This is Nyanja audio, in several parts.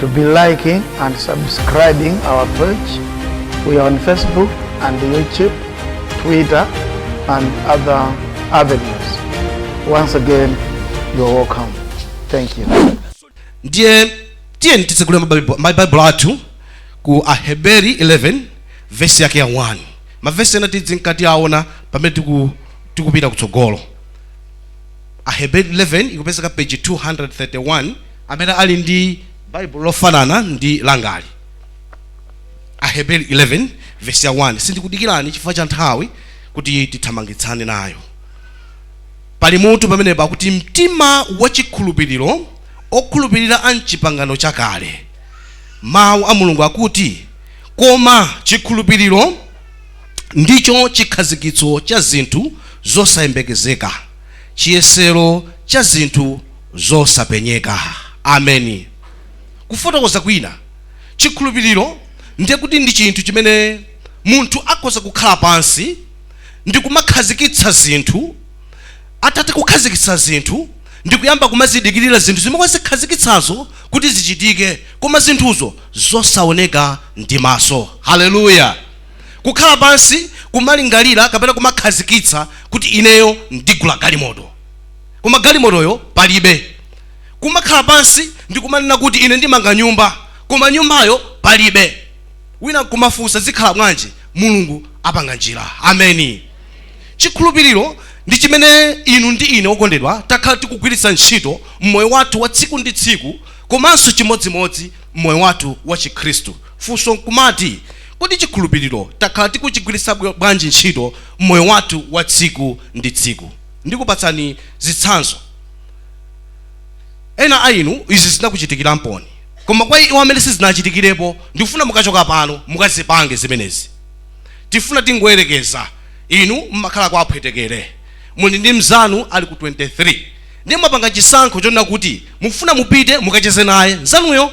to be liking and subscribing our page. We are on Facebook and YouTube, Twitter, and other avenues. Once again, you are welcome. Thank you. ndiye tiyeni titsegule mabaibu- mabaibulo athu ku aheberi 11 vesi yake ya 1 mavesi ena tidzinka tiaona pamene tiku- tikupita kutsogolo aheberi 11 ikupezeka page 231 amene ali ndi baibulo lofanana ndi langali aheberi 11 vesi ya 1 sindikudikirani chifukwa cha nthawi kuti tithamangitsane nayo pali mutu pamene pakuti mtima wachikhulupiriro okhulupirira a mchipangano chakale mawu a mulungu akuti koma chikhulupiriro ndicho chikhazikitso cha zinthu zosayembekezeka chiyesero cha zinthu zosapenyeka. Ameni. Kufotokoza kwina, chikhulupiriro ndiye kuti ndi chinthu chimene munthu akhoza kukhala pansi ndi kumakhazikitsa zinthu, atatha kukhazikitsa zinthu ndi kuyamba kumazidikirira zinthu zimene wazikhazikitsazo kuti zichitike, koma zinthuzo zosaoneka ndi maso. Haleluya! kukhala pansi, kumalingalira, kapena kumakhazikitsa kuti ineyo ndigula galimoto, koma galimotoyo palibe, kumakhala pansi ndi kumanena kuti ine ndimanga nyumba, koma nyumbayo palibe, wina nkumafunsa zikhala bwanji? Mulungu apanga njira. Ameni. Chikhulupiriro ndi chimene inu ndi ine, okondedwa, takhala tikugwiritsa ntchito m'moyo wathu wa tsiku ndi tsiku komanso chimodzimodzi m'moyo wathu wa Chikhristu. Funso nkumati, Kodi chikhulupiriro takhala tikuchigwiritsa bwanji ntchito m'moyo wathu wa tsiku ndi tsiku? Ndikupatsani zitsanzo. Ena a inu izi zinakuchitikiramponi. Koma kwa iwo amene sizinawachitikirepo, ndikufuna mukachoka pano mukazipange zimenezi. Tifuna tingoyerekeza. Inu mumakhala kwa aphwetekere. Muli ndi mnzanu ali ku 23. Ndiye mwapanga chisankho chonena kuti mufuna mupite mukacheze naye mnzanuyo.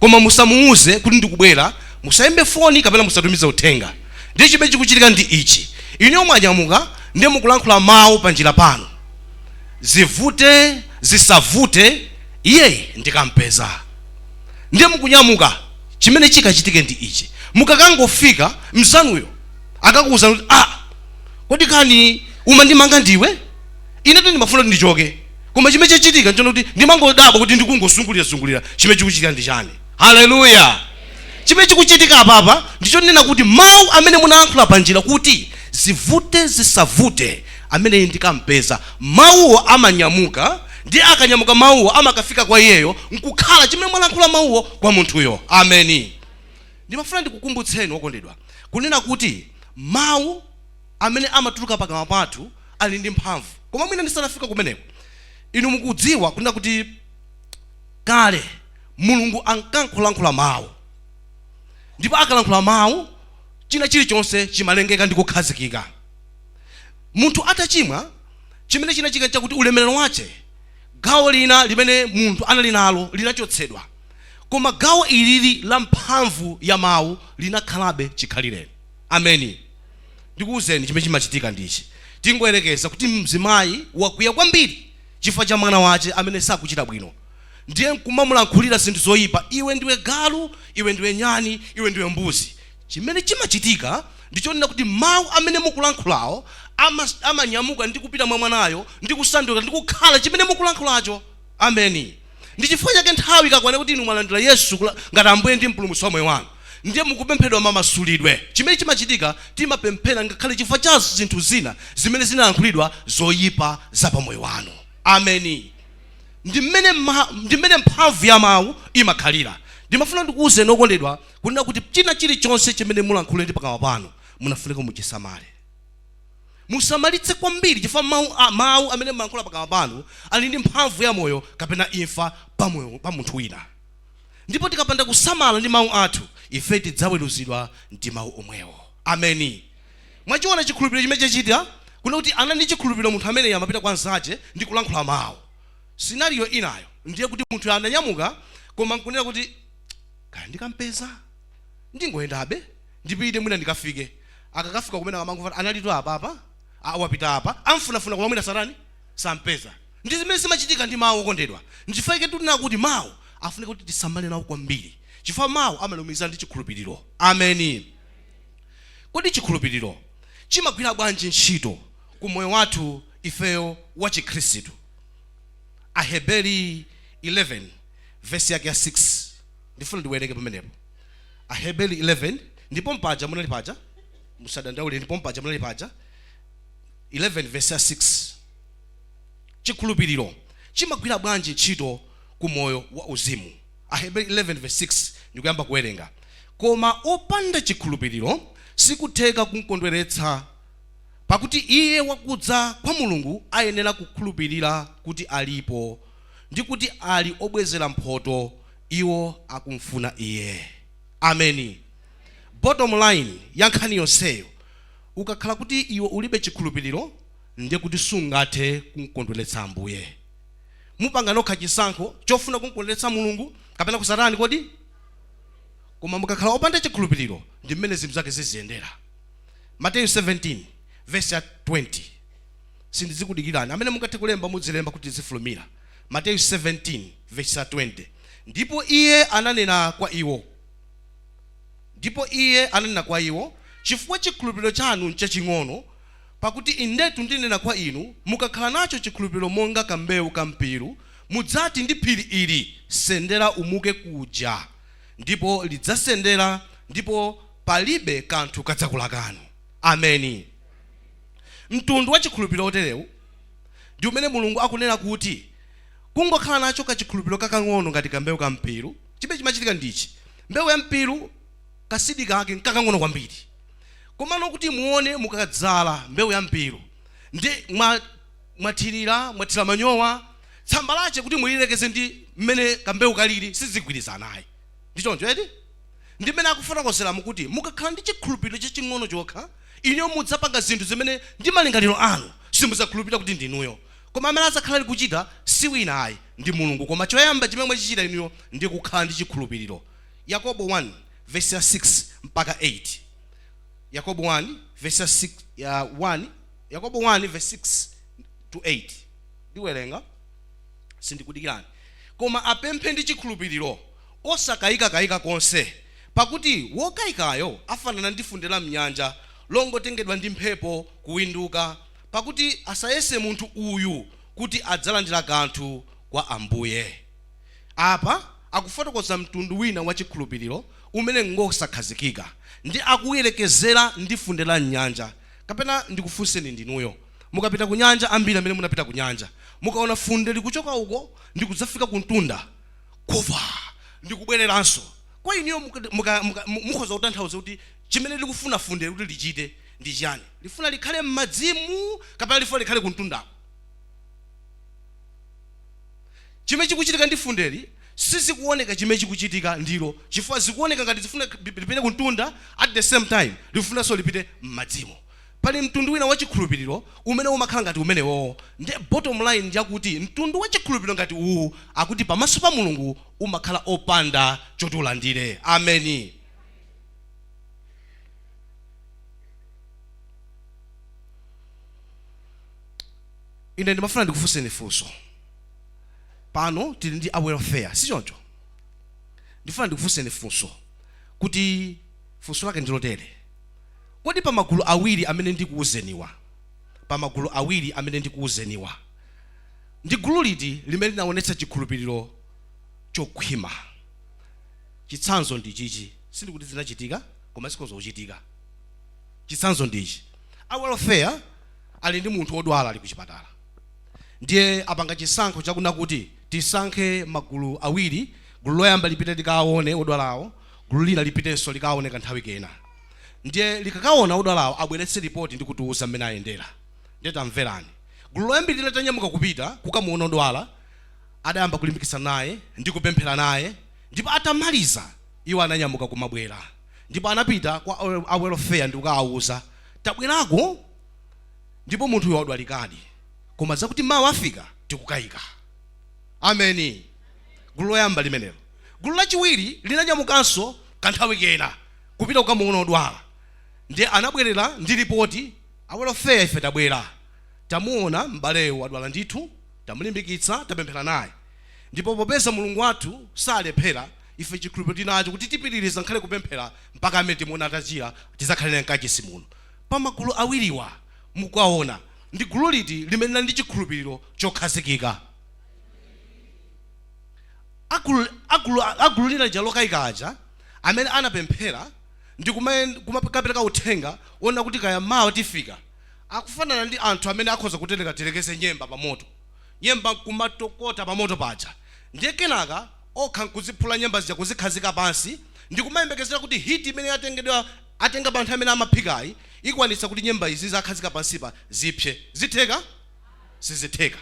koma musamuuze kuti ndikubwera, musaimbe foni kapena musatumize uthenga. Ndiye chimene chikuchitika ndi ichi, inuyo mwanyamuka ndiye mukulankhula mawu panjira panu. Zivute zisavute, iye ndikampeza. Ndiye mukunyamuka, chimene chikachitike ndi ichi, mukakangofika, mnzanuyo akakuuzani kuti, Ah, kodi kani umandimanga ndiwe? Inetu ndimafuna kuti ndichoke, koma chimene chikuchitika n'chonena kuti ndimangodabwa kuti ndikungozungulira-zungulira. Chimene chikuchitika ndi chani? Haleluya! Chimene chikuchitika apapa ndi chonena kuti mau amene munalankhula panjira kuti, Zivute zisavute, ameneyi ndikam'peza. Mauwo amanyamuka, ndiye akanyamuka mauwo amakafika kwa iyeyo n'kukhala chimene mwalankhula mauwo kwa munthuyo. Ameni! Ndimafuna ndikukumbutseni okondedwa, kunena kuti mau. amene amatuluka pakamwa pathu ali ndi mphamvu. Koma mwina ndisanafike kumeneko, inu mukudziwa, kunena kuti, kale, Mulungu ankangolankhula Mawu. Ndipo akalankhula Mawu, china chilichonse chimalengeka ndi kukhazikika. Munthu atachimwa, chimene chinachitika nchakuti ulemerero wache, gawo lina limene munthu anali nalo, linachotsedwa. Koma gawo ilili la mphamvu ya Mawu linakhalabe chikhalireni. ameni ndikuwuzeni chimene chimachitika ndichi tingoyerekeza kuti mzimayi wakwiya kwambiri chifukwa cha mwana wache amene sakuchita bwino ndiye nkumamulankhulira zinthu zoyipa iwe ndiwe galu iwe ndiwe nyani iwe ndiwe mbuzi chimene chimachitika ndichonena kuti mawu amene mukulankhulawo amanyamuka ndi kupita mwa mwanayo ndi kusanduka ndi kukhala chimene mukulankhulacho ameni Ndi chifukwa chake nthawi ikakwana kuti inu mwalandira Yesu ngati Ambuye ndi Mpulumutsi wa moyo wanu, ndiye mukupempheredwa mamasulidwe. Chimene chimachitika, timapemphera ngakhale chifukwa cha zinthu zina zimene zinalankhulidwa zoyipa za pa moyo wanu. Ameni. Ndi mmene ma, ndi mmene mphamvu ya mau imakhalira. Ndimafuna ndikuwuzeni okondedwa, kunena kuti china chilichonse chimene mulankhule ndi pakamwa panu, munafunika muchisamale. Musamalitse kwambiri chifukwa mau amene mumalankhula pakamwa panu ali ndi mphamvu ya moyo kapena imfa pa munthu wina. Ndipo tikapanda kusamala ndi mau athu, ife tidzaweruzidwa ndi mau omwewo. Ameni. Mwachiona chikhulupiliro chimene chachita? Kunena kuti anali ndi chikhulupiliro munthu ameneyu amapita kwa nzache ndi kulankhula mau. Scenario inayo ndiye kuti munthuyo ananyamuka koma ankunena kuti, Kaya ndikampeza? Ndingoyendabe. ndipite mwina ndikafike akakafika kumeneko amangomva kuti analitu apapa aa wapita apa amfunafuna koma mwina satani sampeza ndi zimene zimachitika ndi mawu okondedwa nchifukwa chake tikunena kuti mawu afunika kuti tisamale nawo kwambiri chifukwa mawu amalumikizana ndi chikhulupiriro ameni kodi chikhulupiriro chimagwira bwanji ntchito ku moyo wathu ifeyo wa chikhristu aheberi 11 vesi yake ya 6 ndifuna ndiwerenge pamenepo aheberi 11 ndipo mpaja munali paja musadandaule ndipo mpaja munali paja 11 verse 6 chikhulupiriro chimagwira bwanji ntchito ku moyo wa uzimu aheberi 11 verse 6 ndikuyamba kuwerenga koma opanda chikhulupiriro sikutheka kumkondweretsa pakuti iye wakudza kwa mulungu ayenera kukhulupirira kuti alipo ndi kuti ali obwezera mphotho Iwo akumfuna Iye. Ameni. Bottom line ya nkhani yonseyo, ukakhala kuti iwe ulibe chikhulupiriro, ndiye kuti sungathe kumkondweretsa Ambuye. Mupanga nokha chisankho chofuna kumkondweretsa Mulungu kapena kusatani kodi? Koma mukakhala opanda chikhulupiriro, ndi mmene zinthu zake ziziyendera. Mateyu 17 vesi ya 20. Sindidzikudikirani. Amene mungathe kulemba mudzilemba kuti tidzifulumira. Mateyu 17 vesi 20 Ndipo Iye ananena kwa iwo, ndipo Iye ananena kwa iwo, Chifukwa chikhulupiliro chanu n'chaching'ono, pakuti indetu ndinena kwa inu, mukakhala nacho chikhulupiliro monga kambewu ka mpiru, mudzati ndi phiri ili, sendera umuke kuja, ndipo lidzasendera, ndipo palibe kanthu kadzakulakani. Ameni. Mtundu wa chikhulupiliro woterewu! ndi umene Mulungu akunena kuti, Kungokhala nacho kachikhulupiriro kakang'ono ngati ka mbewu ka mpiru, chimene chimachitika ndi ichi, mbewu ya mpiru ka seed kake nkakang'ono kwambiri. Komano kuti muone mukadzala mbewu ya mpiru, ndi mwathirira, mwathira manyowa, tsamba lache kuti muliyerekeze ndi m'mene ka mbewu kaliri sizigwirizana ayi. Ndi choncho eti? Ndi m'mene akufotokozeramo kuti mukakhala ndi chikhulupiriro chaching'ono chokha, Inuyo mudzapanga zinthu zimene ndi malingaliro anu simudzakhulupilira kuti ndi inuyo. Koma amene adzakhala ali kuchita si wina ayi ndi Mulungu. Koma choyamba chimene mwachichita inuyo ndi kukhala ndi chikhulupiliro. Yakobo 1 vesi ya 6 mpaka 8 Yakobo 1 vesi ya 6 ya 1 Yakobo 1 vesi 6 to 8 Ndiwerenga sindikudikirani koma apemphe ndi chikhulupiliro Osakayikakayika konse, pakuti wokayikayo afanana ndi funde la m'nyanja, longotengedwa ndi mphepo kuwinduka. Pakuti asayese munthu uyu kuti adzalandira kanthu kwa Ambuye. Apa akufotokoza mtundu wina wa chikhulupiriro umene n'ngosakhazikika, ndi akuuyerekezera ndi funde la m'nyanja. Kapena ndikufunseni ndinuyo, mukapita kunyanja, ambiri amene munapita kunyanja, mukaona funde likuchoka uko ndi kudzafika kumtunda, kufa ndi kubwereranso kwa inuyo mukhoza kutanthauza kuti chimene likufuna fundeli kuti lichite ndi chiyani lifuna likhale m'madzimo kapena lifuna likhale kumtundako chimene chikuchitika ndi fundeli sizikuoneka chimene chikuchitika ndilo chifukwa zikuoneka ngati lifuna lipite kumtunda at the same time lifunanso lipite m'madzimo Pali mtundu wina wa chikhulupiliro umene umakhala ngati umenewo nde bottom line ndiyakuti mtundu wa chikhulupiliro ngati uwuwu akuti pamaso pa Mulungu umakhala opanda choti ulandire. Ameni. Ine ndimafuna ndikufunseni funso. Pano tili ndi a welfare sichoncho? Ndifuna ndikufunseni funso kuti funso lake ndilotere. Kodi pa magulu awiri amene ndikuuzeniwa, pa magulu awiri amene ndikuuzeniwa, ndi gulu liti limene linaonetsa chikhulupiriro chokhwima? Chitsanzo ndi ichichi, sindikuti zinachitika koma zikhoza kuchitika. Chitsanzo ndi ichi, a welfare ali ndi munthu odwala ali kuchipatala ndiye apanga chisankho chakuna kuti tisankhe magulu awiri, gulu loyamba lipite likaawone odwalawo, gulu lina lipitenso likaawone kanthawi kena. ndiye likakaona odwalawo abweretse lipoti ndi kutiuza mmene ayendera ndiye tamverani gulu loyambirira litanyamuka kupita kukamuona odwala adayamba kulimbikitsana naye ndi kupemphera naye ndipo atamaliza iwo ananyamuka kumabwera ndipo anapita kwa a- a welfare ndi kukawauza tabwerako ndipo munthuyo wadwalikadi koma zakuti mawa afika tikukayika ameni gulu loyamba limenelo gulu lachiwiri linanyamukanso kanthawi kena kupita kukamuona odwala ndiye anabwerera ndi lipoti a welfare ife tabwera tamuona m'baleyo wadwala ndithu tamulimbikitsa tapemphera naye ndipo popeza mulungu wathu salephera ife chikhulupiriro tinacho kuti tipitiriza ngakhale kupemphera mpaka mmene timuona atachira tizakhale naye mkachisi muno pa magulu awiriwa mukuona ndi gulu liti limene lili ndi chikhulupiriro chokhazikika agulu lina lija lokayika aja amene anapemphera ndi kumayen, kumakapereka uthenga wonena kuti kaya mawa tifika, akufanana ndi anthu amene akhoza kutereka tiyerekeze nyemba pa moto, nyemba nkumatokota pa moto paja, ndiye kenaka okha nkuziphula nyemba zija kuzikhazika pansi ndi kumayembekezera kuti heat imene yatengedwa, atenga pa nthawi imene amaphikayi ikwanitsa kuti nyemba izi akhazika pansipa zipse. Zitheka? Sizitheka.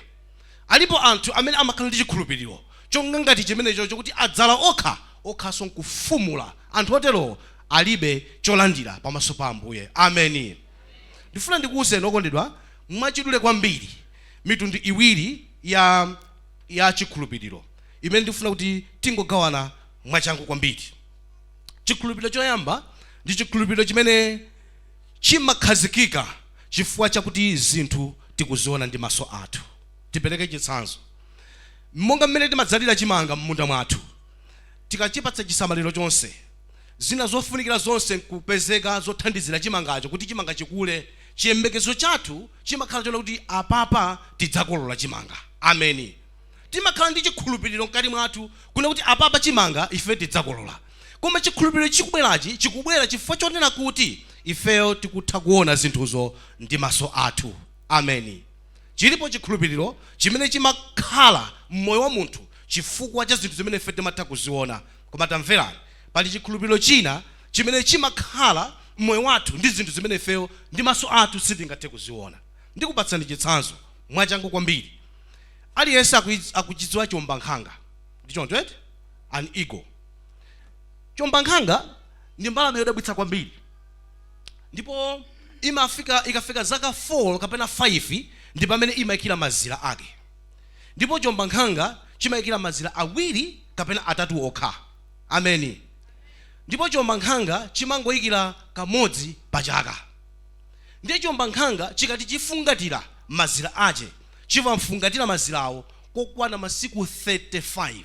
Alipo anthu amene amakhala ndi chikhulupiriro chonga ngati chimenecho chokuti adzala okha okhanso nkufumula. Anthu otero alibe cholandira pamaso pa Ambuye. Ameni. Ndifuna ndikuuzeni, okondedwa, mwachidule kwambiri mitundu iwiri ya, ya chikhulupiriro imene ndikufuna kuti tingogawana mwachangu kwambiri. Chikhulupiriro choyamba ndi chikhulupiriro chimene. chimakhazikika chifukwa chakuti zinthu tikuziona ndi maso athu. Tipereke chitsanzo. Monga mmene timadzalira chimanga m'munda mwathu, tikachipatsa chisamaliro chonse, zina zofunikira zonse nkupezeka zothandizira chimangacho kuti chimanga chikule, chiyembekezo chathu chimakhala chonena kuti apapa tidzakolola chimanga. Ameni. Timakhala ndi chikhulupiriro mkati mwathu kunena kuti apapa chimanga ife tidzakolola. Koma chikhulupiriro chikubwerachi chikubwera chifukwa chonena kuti ifeyo tikutha kuona zinthuzo ndi maso athu. Ameni. Chilipo chikhulupiriro chimene chimakhala m'moyo wa munthu chifukwa cha zinthu zimene ife timatha kuziona. Koma tamverani, pali chikhulupiriro china chimene chimakhala m'moyo wathu ndi zinthu zimene ifeyo ndi maso athu sitingathe kuziona. Ndikupatsani chitsanzo mwachangu kwambiri. Aliyense akuchidziwa chiombankhanga, ndi choncho eti? An eagle. Chiombankhanga ndi mbalame yodabwitsa kwambiri ndipo imafika ikafika zaka 4 kapena 5 ndi pamene imaikira mazira ake ndipo chiombankhanga chimaikira mazira awiri kapena atatu okha. Ameni. Ndipo chiombankhanga chimangoikira kamodzi pa chaka. Ndiye chiombankhanga chikati chifungatira mazira ache chimafungatira mazirawo kokwana masiku 35.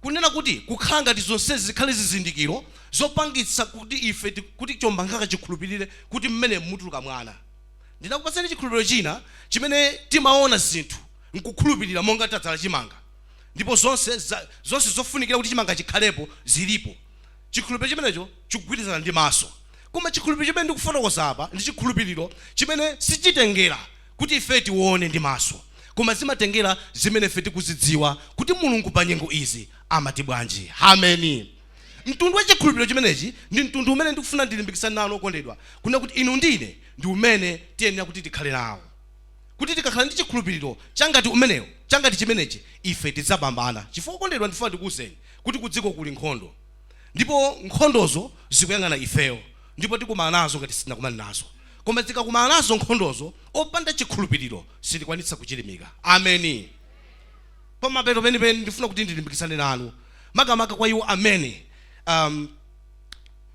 Kunena kuti, kukhala ngati zonsezi zikhale zizindikiro zopangitsa kuti ife ti, kuti chiombankhanga chikhulupirire kuti mmenemu mutuluka mwana. Ndinakupatsani chikhulupiriro china chimene timaona zinthu n'kukhulupirira monga tadzala chimanga ndipo zonse za, zonse zofunikira kuti chimanga chikhalepo zilipo. Chikhulupiriro chimenecho chikugwirizana ndi maso. Koma chikhulupiriro chimene ndikufotokoza apa ndi chikhulupiriro chimene sichitengera. kuti ife tiwone ndi maso, koma zimatengera zimene ife tikuzidziwa kuti Mulungu pa nyengo izi amati bwanji. Ameni. Mtundu wa chikhulupiriro chimenechi ndi mtundu umene ndikufuna ndilimbikitsane nawo, okondedwa, kunena kuti inu ndi ine ndi umene tiyenera kuti tikhale nawo. Kuti tikakhala ndi chikhulupiriro cha ngati umenewo, cha ngati chimenechi, ife tidzapambana. Chifukwa, okondedwa, ndifuna ndikuuzeni kuti kudziko kuli nkhondo, ndipo nkhondozo zikuyang'ana ifeyo, ndipo tikumana nazo ngati sitinakumane nazo. Koma tikakumana nazo nkhondozo, opanda chikhulupiriro sitikwanitsa kuchilimika. Ameni. Pamapeto penipeni, ndifuna kuti ndilimbikitsane nanu, makamaka kwa iwo amene um,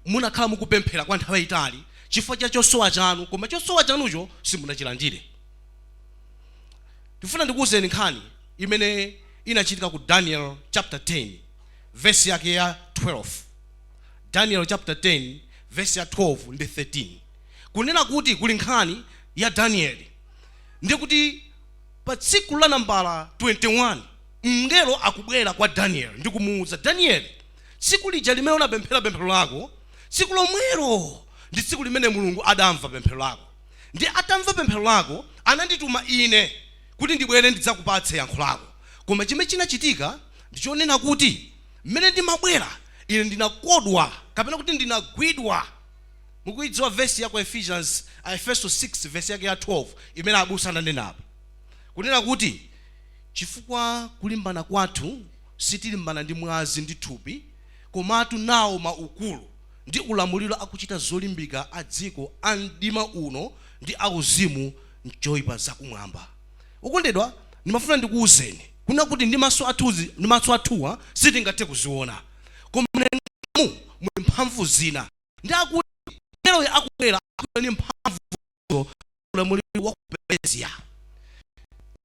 mwakhala mukupemphera kwa nthawi yayitali chifukwa cha chosowa chanu, koma chosowa chanucho simunachilandire. Ndifuna ndikuwuzeni nkhani imene inachitika ku Daniel chapter 10 verse yake ya 12. Daniel chapter 10 verse ya 12 ndi 13 kunena kuti kuli nkhani ya Danieli ndiye kuti pa tsiku la nambala 21 mngelo akubwera kwa Daniel ndi kumuwuza Daniel tsiku lija limene unapemphera pemphero lako tsiku lomwelo ndi tsiku limene Mulungu adamva pemphero lako ndi atamva pemphero lako anandituma ine kuti ndibwere ndidzakupatse yankho lako koma chimene chinachitika ndichonena kuti Mmene ndimabwera, ine ndinakodwa, kapena kuti ndinagwidwa. Mukuidziwa vesi ya ku Ephesians, Aefeso 6, vesi yake ya 12, imene abusa ananenapo? Kunena kuti, Chifukwa kulimbana kwathu sitilimbana ndi mwazi ndi thupi, komatu nawo maukulu, ndi ulamuliro akuchita zolimbika a dziko a mdima uno, ndi auzimu m'choipa zakumwamba. Okondedwa, ndimafuna ndikuuzeni kunena kuti ndi maso athuwa sitingathe kuziona koma mlengamu muli mphamvu zina ndi akuti mngeloyo akubwera ndi mphamvu ulamuliro wa ku Perezia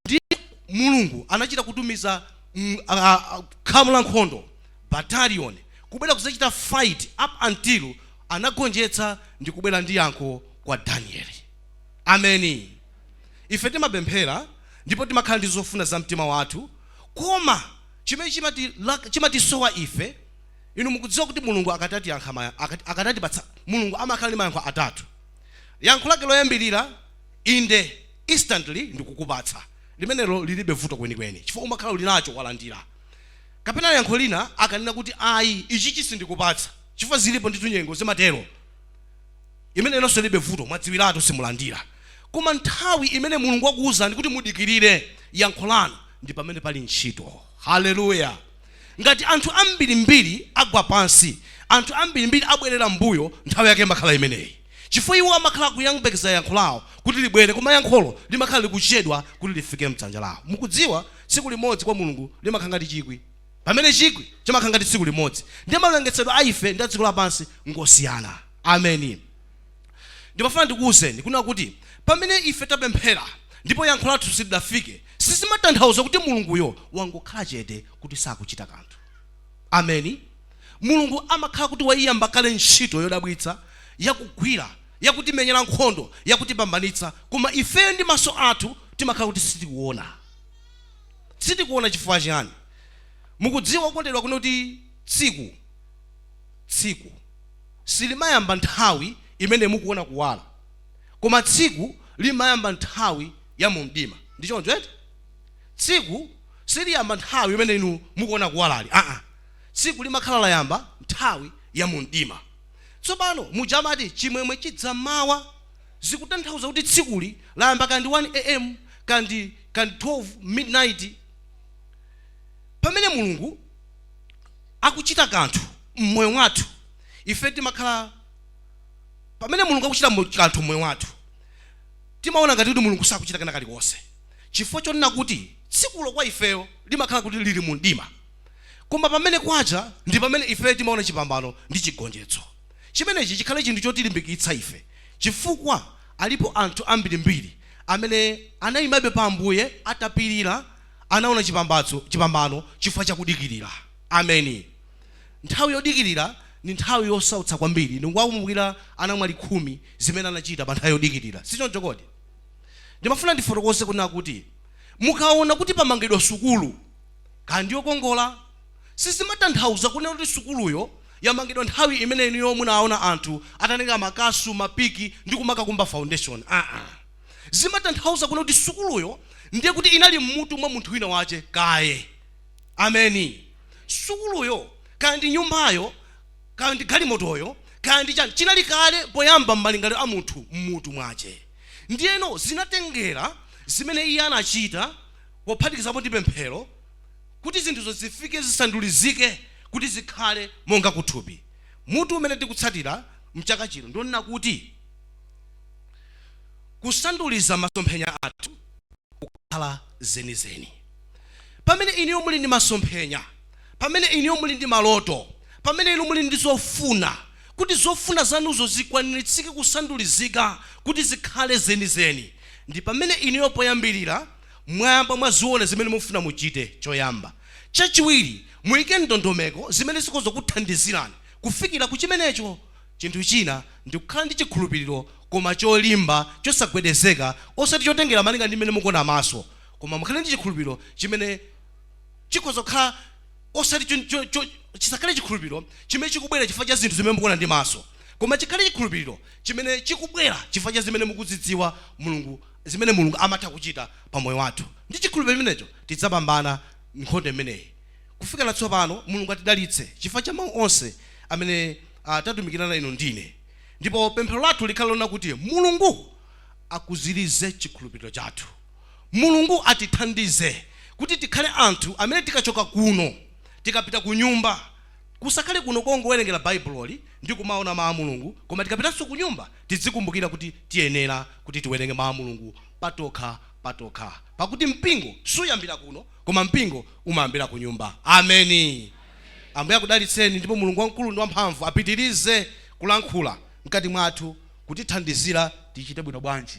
ndi Mulungu anachita kutumiza khamu la nkhondo battalion kubwera kuzachita fight up until anagonjetsa ndi kubwera ndi yankho kwa Danieli ameni Ife timapemphera ndipo timakhala ndi zofuna za mtima wathu, koma chimene chimatisowa ife, inu mukudziwa kuti Mulungu akati atipatsa. Mulungu amakhala ndi mayankho atatu. Yankho Lake loyambirira, Inde, instantly, ndikukupatsa. Limenelo liribe vuto kwenikweni, chifukwa umakhala uli nacho, walandira. Kapena yankho lina, akanena kuti, Ayi, ichichi sindikupatsa, chifukwa ziripo ndithu nyengo zimatero. Limenelonso lilibe vuto, mwadziwiratu simulandira. Koma nthawi imene Mulungu akuuzani kuti mudikirire yankho lanu ndi pamene pali ntchito. Haleluya! Ngati anthu ambirimbiri agwa pansi, anthu ambirimbiri abwerera m'mbuyo, nthawi yake imakhala imeneyi chifukwa iwo amakhala akuyembekeza yankho lawo kuti libwere, koma yankholo limakhala likuchedwa kuti lifike m'dzanja lawo. Mukudziwa, tsiku limodzi kwa Mulungu limakhala ngati chikwi. Pamene chikwi chimakhala ngati tsiku limodzi, ndiye mawerengetsedwe a ife ndi a dziko lapansi ngosiyana. Ameni. Ndimafuna ndikuuzeni kunena kuti pamene ife tapemphera ndipo yankho lathu silidafike, sizimatanthauza kuti Mulunguyo wangokhala chete kuti sakuchita kanthu. Ameni. Mulungu amakhala kuti waiyamba kale ntchito yodabwitsa yakugwira, yakutimenyera nkhondo, yakutipambanitsa, koma ifeyo ndi maso athu timakhala kuti sitikuona. sitikuona chifukwa chiyani mukudziwa okondedwa kunena kuti tsiku tsiku silimayamba nthawi imene mukuona kuwala koma tsiku limayamba nthawi ya mu mdima ndi choncho eti tsiku siliyamba nthawi imene inu mukuona kuwalali aa tsiku limakhala layamba nthawi ya mu mdima tsopano muja amati chimwemwe chidzamawa Zikutanthauza kuti tsikuli layamba kaya ndi 1 AM kaya ndi 12 midnight. Pamene Mulungu akuchita kanthu mmoyo mwathu ife timakhala Pamene Mulungu akuchita kanthu mmoyo wathu timaona ngati kuti Mulungu sakuchita kena kalikonse chifukwa chonena kuti tsikulo kwa ifeyo limakhala kuti liri mu mdima koma pamene kwacha ndi pamene ifeyo timaona chipambano ndi chigonjetso. Chimenechi chikhale chinthu chotilimbikitsa ife chifukwa alipo anthu ambirimbiri amene anaimabe pa Ambuye atapirira, anaona chi chipambano chifukwa cha kudikirira. Ameni. Nthawi yodikirira ndi nthawi yosautsa kwambiri. Inu mukuwakumbukira anamwali khumi zimene anachita pa nthawi yodikirira, si choncho kodi? Ndimafuna ndifotokoze kunena kuti mukaona kuti pamangidwa sukulu, kaya ndi yokongola, sizimatanthauza kunena kuti sukuluyo yamangidwa nthawi imene inuyo munaona anthu atatenga makasu, mapiki ndi kumakakumba foundation. Aa. Zimatanthauza kunena kuti sukuluyo ndiye kuti inali m'mutu mwa munthu wina wache kaye. Ameni. Sukuluyo, kaya ndi nyumbayo, kaya ndi galimotoyo, kaya ndi chani, chinali kale poyamba m'malingaliro a munthu m'mutu mwache. Ndiyeno zinatengera zimene iye anachita pophatikizapo ndi pemphero, Kuti zinthuzo zifike zisandulizike kuti zikhale monga kuthupi. Mutu umene tikutsatira mchaka chino ndi wonena kuti Kusanduliza masomphenya athu kukhala zenizeni. Pamene inuyo muli ndi masomphenya, pamene inuyo muli ndi maloto, pamene inu muli ndi zofuna, kuti zofuna zanuzo zikwaniritsike kusandulizika kuti zikhale zenizeni, ndi pamene inuyo poyambirira, mwayamba mwaziona zimene mufuna muchite choyamba. Chachiwiri, muike ndondomeko zimene zikhoza kukuthandizirani kufikira ku chimenecho. Chinthu china ndi kukhala ndi chikhulupiriro koma cholimba, chosagwedezeka, osati chotengera malinga ndi mmene mukuona maso, koma mukhale ndi chikhulupiriro chimene chikhoza kukhala osati chisakhale chikhulupiriro chimene chikubwera chifukwa cha zinthu zimene mukuona ndi maso, koma chikhale chikhulupiriro chimene chikubwera chifukwa cha zimene mukuzidziwa Mulungu zimene Mulungu amatha kuchita pa moyo wathu. Ndi chikhulupiriro chimenecho, tidzapambana nkhondo imeneyi. Kufikira tsopano, Mulungu atidalitse chifukwa cha mau onse amene tatumikirana inu ndi ine. Ndipo pemphero lathu likhale lonena kuti Mulungu akuzirize chikhulupiriro chathu. Mulungu atithandize kuti tikhale anthu amene tikachoka kuno, tikapita kunyumba, kusakhale kuno kongowerengera Baibuloli ndi kumaona mau a Mulungu, koma tikapitanso kunyumba, Tidzikumbukira kuti tiyenera kuti tiwerenge Mawu a Mulungu patokha patokha, pakuti mpingo suyambira kuno, koma mpingo umayambira kunyumba. Ameni. Ambuye akudalitseni, ndipo Mulungu wamkulu ndi wamphamvu apitirize kulankhula mkati mwathu, kutithandizira tichite bwino bwanji.